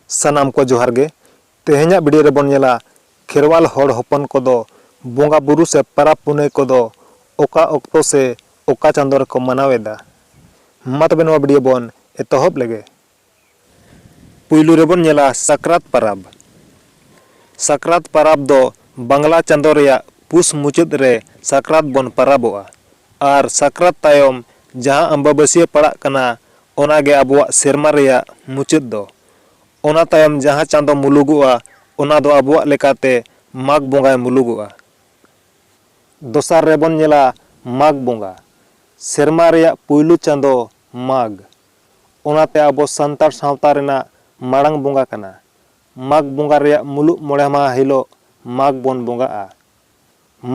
ᱥᱟᱱᱟᱢ ᱠᱚ ᱡᱚᱦᱟᱨ ᱜᱮ ᱛᱮᱦᱮᱧᱟᱜ ᱵᱷᱤᱰᱤᱭᱳ ᱨᱮᱵᱚᱱ ᱧᱮᱞᱟ ᱠᱷᱮᱨᱣᱟᱞ ᱦᱚᱲ ᱦᱚᱯᱚᱱ ᱠᱚᱫᱚ ᱵᱚᱸᱜᱟ ᱵᱩᱨᱩ ᱥᱮ ᱯᱟᱨᱟᱵᱽ ᱯᱩᱱᱟᱹᱭ ᱠᱚᱫᱚ ᱚᱠᱟ ᱚᱠᱛᱚ ᱥᱮ ᱚᱠᱟ ᱪᱟᱸᱫᱚ ᱨᱮᱠᱚ ᱢᱟᱱᱟᱣ ᱮᱫᱟ ᱢᱟ ᱛᱚᱵᱮ ᱱᱚᱣᱟ ᱵᱷᱤᱰᱤᱭᱳ ᱵᱚᱱ ᱮᱛᱚᱦᱚᱵ ᱞᱮᱜᱮ ᱯᱩᱭᱞᱩ ᱨᱮ ᱵᱚᱱ ᱧᱮᱞᱟ ᱥᱟᱠᱨᱟᱛ ᱯᱟᱨᱟᱵᱽ᱾ ᱥᱟᱠᱨᱟᱛ ᱯᱟᱨᱟᱵᱽ ᱫᱚ ᱵᱟᱝᱞᱟ ᱪᱟᱸᱫᱚ ᱨᱮᱭᱟᱜ ᱯᱩᱥ ᱢᱩᱪᱟᱹᱫ ᱨᱮ ᱥᱟᱠᱨᱟᱛ ᱵᱚᱱ ᱯᱟᱨᱟᱵᱚᱜᱼᱟ ᱟᱨ ᱥᱟᱠᱨᱟᱛ ᱛᱟᱭᱚᱢ ᱡᱟᱦᱟᱸ ᱟᱢᱵᱟᱵᱟᱹᱥᱭᱟᱹ ᱯᱟᱲᱟᱜ ᱠᱟᱱᱟ ᱚᱱᱟ ᱜᱮ ᱟᱵᱚᱣᱟᱜ ᱥᱮᱨᱢᱟ ᱨᱮᱭᱟᱜ ᱢᱩᱪᱟᱹᱫ ᱫᱚ᱾ ᱚᱱᱟ ᱛᱟᱭᱚᱢ ᱡᱟᱦᱟᱸ ᱪᱟᱸᱫᱚ ᱢᱩᱞᱩᱜᱚᱜᱼᱟ ᱚᱱᱟ ᱫᱚ ᱟᱵᱚᱣᱟᱜ ᱞᱮᱠᱟᱛᱮ ᱢᱟᱜᱽ ᱵᱚᱸᱜᱟᱭ ᱢᱩᱞᱩᱜᱚᱜᱼᱟ᱾ ᱫᱚᱥᱟᱨ ᱨᱮ ᱵᱚᱱ ᱧᱮᱞᱟ ᱢᱟᱜᱽ ᱵᱚᱸᱜᱟ᱾ ᱥᱮᱨᱢᱟ ᱨᱮᱭᱟᱜ ᱯᱩᱭᱞᱩ ᱪᱟᱸᱫᱚ ᱢᱟᱜᱽ᱾ ᱚᱱᱟᱛᱮ ᱟᱵᱚ ᱥᱟᱱᱛᱟᱲ ᱥᱟᱶᱛᱟ ᱨᱮᱱᱟᱜ ᱢᱟᱲᱟᱝ ᱵᱚᱸᱜᱟ ᱠᱟᱱᱟ᱾ ᱢᱟᱜᱽ ᱵᱚᱸᱜᱟ ᱨᱮᱭᱟᱜ ᱢᱩᱞᱩᱜ ᱢᱚᱬᱮ ᱢᱟᱦᱟᱸ ᱦᱤᱞᱚᱜ ᱢᱟᱜᱽ ᱵᱚᱱ ᱵᱚᱸᱜᱟᱜᱼᱟ᱾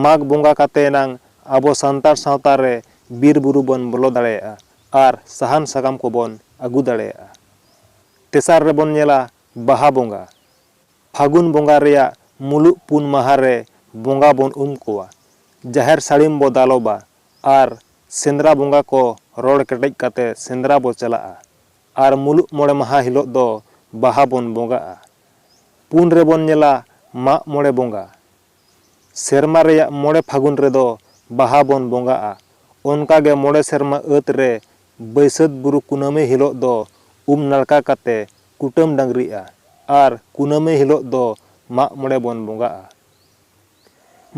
ᱢᱟᱜᱽ ᱵᱚᱸᱜᱟ ᱠᱟᱛᱮ ᱮᱱᱟᱝ ᱟᱵᱚ ᱥᱟᱱᱛᱟᱲ ᱥᱟᱶᱛᱟ ᱨᱮ ᱵᱤᱨ ᱵᱩᱨᱩ ᱵᱚᱱ ᱵᱚᱞᱚ ᱫᱟᱲᱮᱭᱟᱜᱼᱟ ᱟᱨ ᱥᱟᱦᱟᱱ ᱥᱟᱠᱟᱢ ᱠᱚ ᱵᱚᱱ ᱟᱹᱜᱩ ᱫᱟᱲᱮᱭᱟᱜᱼᱟ᱾ ᱛᱮᱥᱟᱨ ᱨᱮ ᱵᱚᱱ ᱧᱮᱞᱟ ᱵᱟᱦᱟ ᱵᱚᱸᱜᱟ᱾ ᱯᱷᱟᱹᱜᱩᱱ ᱵᱚᱸᱜᱟ ᱨᱮᱭᱟᱜ ᱢᱩᱞᱩᱜ ᱯᱩᱱ ᱢᱟᱦᱟᱸ ᱨᱮ ᱵᱚᱸᱜᱟ ᱵᱚᱱ ᱩᱢ ᱠᱚᱣᱟ᱾ ᱡᱟᱦᱮᱨ ᱥᱟᱹᱲᱤᱢ ᱵᱚ ᱫᱟᱞᱚᱵᱟ᱾ ᱟᱨ ᱥᱮᱸᱫᱽᱨᱟ ᱵᱚᱸᱜᱟ ᱠᱚ ᱨᱚᱲ ᱠᱮᱴᱮᱡ ᱠᱟᱛᱮ ᱥᱮᱸᱫᱽᱨᱟ ᱵᱚ ᱪᱟᱞᱟᱜᱼᱟ ᱟᱨ ᱢᱩᱞᱩᱜ ᱢᱚᱬᱮ ᱢᱟᱦᱟᱸ ᱦᱤᱞᱚᱜ ᱫᱚ ᱵᱟᱦᱟ ᱵᱚᱱ ᱵᱚᱸᱜᱟᱜᱼᱟ᱾ ᱯᱩᱱ ᱨᱮ ᱵᱚᱱ ᱧᱮᱞᱟ ᱢᱟᱜ ᱢᱚᱬᱮ ᱵᱚᱸᱜᱟ᱾ ᱥᱮᱨᱢᱟ ᱨᱮᱭᱟᱜ ᱢᱚᱬᱮ ᱯᱷᱟᱹᱜᱩᱱ ᱨᱮ ᱫᱚ ᱵᱟᱦᱟ ᱵᱚᱱ ᱵᱚᱸᱜᱟᱜᱼᱟ᱾ ᱚᱱᱠᱟ ᱜᱮ ᱢᱚᱬᱮ ᱥᱮᱨᱢᱟ ᱟᱹᱛ ᱨᱮ ᱵᱟᱹᱭᱥᱟᱹᱛ ᱵᱩᱨᱩ ᱠᱩᱱᱟᱹᱢᱤ ᱦᱤᱞᱚᱜ ᱫᱚ ᱩᱢ ᱱᱟᱲᱠᱟ ᱠᱟᱛᱮ ᱠᱩᱴᱟᱹᱢ ᱰᱟᱹᱝᱨᱤᱜᱼᱟ ᱟᱨ ᱠᱩᱱᱟᱹᱢᱤ ᱦᱤᱞᱚᱜ ᱫᱚ ᱢᱟᱜ ᱢᱚᱬᱮ ᱵᱚᱱ ᱵᱚᱸᱜᱟᱜᱼᱟ᱾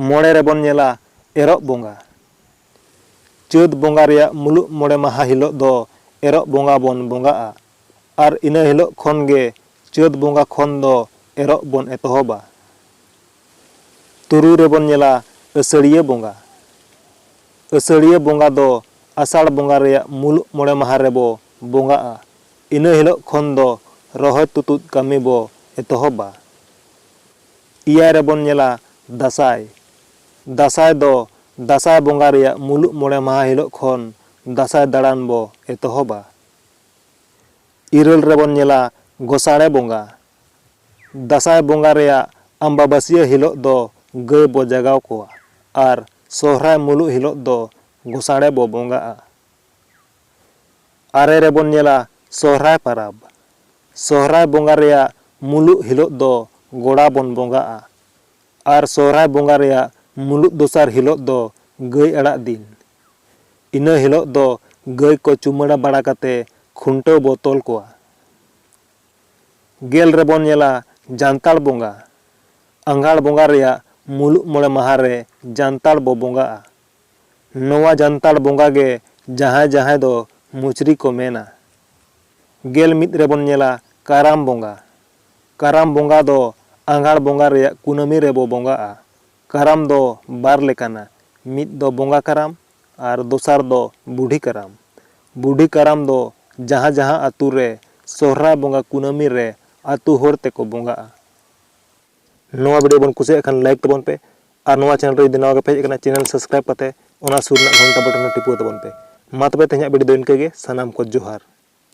ᱢᱚᱬᱮ ᱨᱮᱵᱚᱱ ᱧᱮᱞᱟ ᱮᱨᱚᱜ ᱵᱚᱸᱜᱟ᱾ ᱪᱟᱹᱛ ᱵᱚᱸᱜᱟ ᱨᱮᱭᱟᱜ ᱢᱩᱞᱩᱜ ᱢᱚᱬᱮ ᱢᱟᱦᱟᱸ ᱦᱤᱞᱚᱜ ᱫᱚ ᱮᱨᱚᱜ ᱵᱚᱸᱜᱟ ᱵᱚᱱ ᱵᱚᱸᱜᱟᱜᱼᱟ ᱟᱨ ᱤᱱᱟᱹ ᱦᱤᱞᱚᱜ ᱠᱷᱚᱱ ᱜᱮ ᱪᱟᱹᱛ ᱵᱚᱸᱜᱟ ᱠᱷᱚᱱ ᱫᱚ ᱮᱨᱚᱜ ᱵᱚᱱ ᱮᱛᱚᱦᱚᱵᱟ᱾ ᱛᱩᱨᱩᱭ ᱨᱮᱵᱚᱱ ᱧᱮᱞᱟ ᱟᱹᱥᱟᱹᱲᱤᱭᱟᱹ ᱵᱚᱸᱜᱟ᱾ ᱟᱹᱥᱟᱹᱲᱤᱭᱟᱹ ᱵᱚᱸᱜᱟ ᱫᱚ ᱟᱥᱟᱲ ᱵᱚᱸᱜᱟ ᱨᱮᱭᱟᱜ ᱢᱩᱞᱩᱜ ᱢᱚᱬᱮ ᱢᱟᱦᱟᱸ ᱨᱮᱵᱚ ᱵᱚᱸᱜᱟᱜᱼᱟ᱾ ᱤᱱᱟᱹ ᱦᱤᱞᱚᱜ ᱠᱷᱚᱱ ᱫᱚ ᱨᱚᱦᱚᱭ ᱛᱩᱛᱩᱫ ᱠᱟᱹᱢᱤ ᱵᱚ ᱮᱛᱚᱦᱚᱵᱟ᱾ ᱮᱭᱟᱭ ᱨᱮ ᱵᱚᱱ ᱧᱮᱞᱟ ᱫᱟᱥᱟᱸᱭ᱾ ᱫᱟᱥᱟᱸᱭ ᱫᱚ ᱫᱟᱥᱟᱸᱭ ᱵᱚᱸᱜᱟ ᱨᱮᱭᱟᱜ ᱢᱩᱞᱩᱜ ᱢᱚᱬᱮ ᱢᱟᱦᱟᱸ ᱦᱤᱞᱚᱜ ᱠᱷᱚᱱ ᱫᱟᱥᱟᱸᱭ ᱫᱟᱲᱟᱱ ᱵᱚ ᱮᱛᱚᱦᱚᱵᱟ᱾ ᱤᱨᱟᱹᱞ ᱨᱮ ᱵᱚᱱ ᱧᱮᱞᱟ ᱜᱚᱥᱟᱬᱮ ᱵᱚᱸᱜᱟ᱾ ᱫᱟᱥᱟᱸᱭ ᱵᱚᱸᱜᱟ ᱨᱮᱭᱟᱜ ᱟᱢᱵᱟᱵᱟᱹᱥᱤᱭᱟᱹ ᱦᱤᱞᱚᱜ ᱫᱚ ᱜᱟᱹᱭ ᱵᱚ ᱡᱟᱜᱟᱣ ᱠᱚᱣᱟ ᱟᱨ ᱥᱚᱦᱨᱟᱭ ᱢᱩᱞᱩᱜ ᱦᱤᱞᱚᱜ ᱫᱚ ᱜᱚᱥᱟᱬᱮ ᱵᱚ ᱵᱚᱸᱜᱟᱜᱼᱟ᱾ ᱟᱨᱮ ᱨᱮᱵᱚᱱ ᱧᱮᱞᱟ ᱥᱚᱦᱨᱟᱭ ᱯᱟᱨᱟᱵᱽ᱾ ᱥᱚᱦᱨᱟᱭ ᱵᱚᱸᱜᱟ ᱨᱮᱭᱟᱜ ᱢᱩᱞᱩᱜ ᱦᱤᱞᱚᱜ ᱫᱚ ᱜᱚᱲᱟ ᱵᱚᱱ ᱵᱚᱸᱜᱟᱜᱼᱟ᱾ ᱟᱨ ᱥᱚᱦᱨᱟᱭ ᱵᱚᱸᱜᱟ ᱨᱮᱭᱟᱜ ᱢᱩᱞᱩᱜ ᱫᱚᱥᱟᱨ ᱦᱤᱞᱚᱜ ᱫᱚ ᱜᱟᱹᱭ ᱟᱲᱟᱜ ᱫᱤᱱ᱾ ᱤᱱᱟᱹ ᱦᱤᱞᱚᱜ ᱫᱚ ᱜᱟᱹᱭ ᱠᱚ ᱪᱩᱢᱟᱹᱲᱟ ᱵᱟᱲᱟ ᱠᱟᱛᱮ ᱠᱷᱩᱱᱴᱟᱹᱣ ᱵᱚ ᱛᱚᱞ ᱠᱚᱣᱟ᱾ ᱜᱮᱞ ᱨᱮᱵᱚᱱ ᱧᱮᱞᱟ ᱡᱟᱱᱛᱟᱲ ᱵᱚᱸᱜᱟ᱾ ᱟᱸᱜᱷᱟᱲ ᱵᱚᱸᱜᱟ ᱨᱮᱭᱟᱜ ᱢᱩᱞᱩᱜ ᱢᱚᱬᱮ ᱢᱟᱦᱟᱸ ᱨᱮ ᱡᱟᱱᱛᱟᱲ ᱵᱚ ᱵᱚᱸᱜᱟᱜᱼᱟ᱾ ᱱᱚᱣᱟ ᱡᱟᱱᱛᱟᱲ ᱵᱚᱸᱜᱟ ᱜᱮ ᱡᱟᱦᱟᱸᱭ ᱡᱟᱦᱟᱸᱭ ᱫᱚ ᱢᱩᱪᱨᱤ ᱠᱚ ᱢᱮᱱᱟ᱾ ᱜᱮᱞ ᱢᱤᱫ ᱨᱮ ᱵᱚᱱ ᱧᱮᱞᱟ ᱠᱟᱨᱟᱢ ᱵᱚᱸᱜᱟ᱾ ᱠᱟᱨᱟᱢ ᱵᱚᱸᱜᱟ ᱫᱚ ᱟᱸᱜᱷᱟᱲ ᱵᱚᱸᱜᱟ ᱨᱮᱭᱟᱜ ᱠᱩᱱᱟᱹᱢᱤ ᱨᱮ ᱵᱚ ᱵᱚᱸᱜᱟᱜᱼᱟ᱾ ᱠᱟᱨᱟᱢ ᱫᱚ ᱵᱟᱨ ᱞᱮᱠᱟᱱᱟ, ᱢᱤᱫ ᱫᱚ ᱵᱚᱸᱜᱟ ᱠᱟᱨᱟᱢ ᱟᱨ ᱫᱚᱥᱟᱨ ᱫᱚ ᱵᱩᱰᱷᱤ ᱠᱟᱨᱟᱢ᱾ ᱵᱩᱰᱷᱤ ᱠᱟᱨᱟᱢ ᱫᱚ ᱡᱟᱦᱟᱸ ᱡᱟᱦᱟᱸ ᱟᱹᱛᱩ ᱨᱮ ᱥᱚᱦᱨᱟᱭ ᱵᱚᱸᱜᱟ ᱠᱩᱱᱟᱹᱢᱤ ᱨᱮ ᱟᱹᱛᱩ ᱦᱚᱲ ᱛᱮ ᱠᱚ ᱵᱚᱸᱜᱟᱜᱼᱟ᱾ ᱱᱚᱣᱟ ᱵᱷᱤᱰᱤᱭᱳ ᱵᱚᱱ ᱠᱩᱥᱤᱭᱟᱜ ᱠᱷᱟᱱ ᱞᱟᱭᱤᱠ ᱛᱟᱵᱚᱱ ᱯᱮ ᱟᱨ ᱱᱚᱣᱟ ᱪᱮᱱᱮᱞ ᱨᱮ ᱡᱩᱫᱤ ᱱᱟᱣᱟ ᱜᱮᱯᱮ ᱦᱮᱡ ᱟᱠᱟᱱᱟ ᱪᱮᱱᱮᱞ ᱥᱟᱵᱥᱠᱨᱟᱭᱤᱵ ᱠᱟᱛᱮ ᱚᱱᱟ ᱥᱩᱨ ᱨᱮᱱᱟᱜ ᱜᱷᱚᱱᱴᱟ ᱵᱚᱴᱚᱱ ᱦᱚᱸ ᱴᱤᱯᱟᱹᱣ ᱛᱟᱵᱚᱱ ᱯᱮ ᱢᱟ ᱛᱚᱵᱮ ᱛᱮᱦᱮᱧᱟᱜ ᱵᱷᱤᱰᱤᱭᱳ ᱫᱚ ᱤᱱᱠᱟᱹ ᱜᱮ ᱥᱟᱱᱟᱢ ᱠᱚ ᱡᱚᱦᱟᱨ